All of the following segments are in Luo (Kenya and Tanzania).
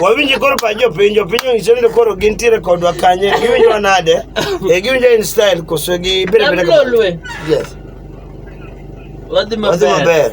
wawinji koro pa jopinjo piny ong'iso ni koro gintiere kodwa kanye giwinjo nade e giwinjo in style koso gi berebere yes wadhi maber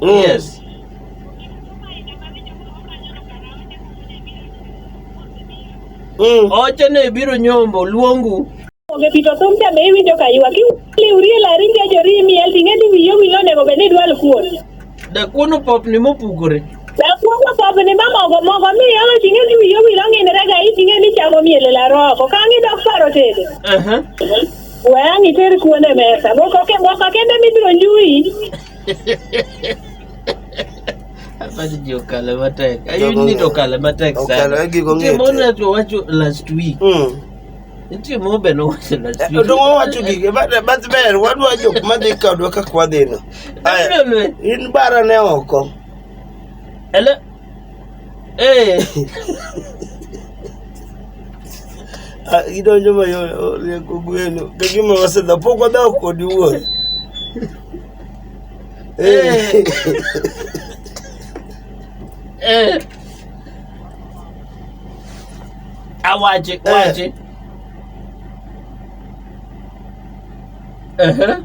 Mm. Yes. Mm. Oche ne biro nyombo luongu. Onge pito thum cha be iwinjo ka ywak. Iwurie lari nge jori imiel ting'e ni wiyo wilo onego bed ni idwal kuon. Dakuon opopni mopukore. Dakuon opopni ma mogo mogo mi yolo ting'e ni wiyo wilo ng'inre ga iting'e ni chamo miel e laro oko. Ka ang'i dok paro tedo. Uh -huh. We ang' iter kuon e mesa. Moko ke- moko kende mibiro nyuyi. Apache ji okale matek. Jogo Ayudi ni to ng'eyo. okale matek sana. Okalo, eh, gigo Nitie ng'eyo moro te. to wacho last week. Mm. Nitie moro be nowacho last Eh, week. Donge wawacho gigi but but ber wadwa jok madhi kodwa kaka wadhino. Aya, Abiro lwe. in bara ne oko. Ele Eh. Ah, idonjo ma rieko gweno kagima wasedha pok wadhaw kodi wuon eh. eh. awache wache uh-huh.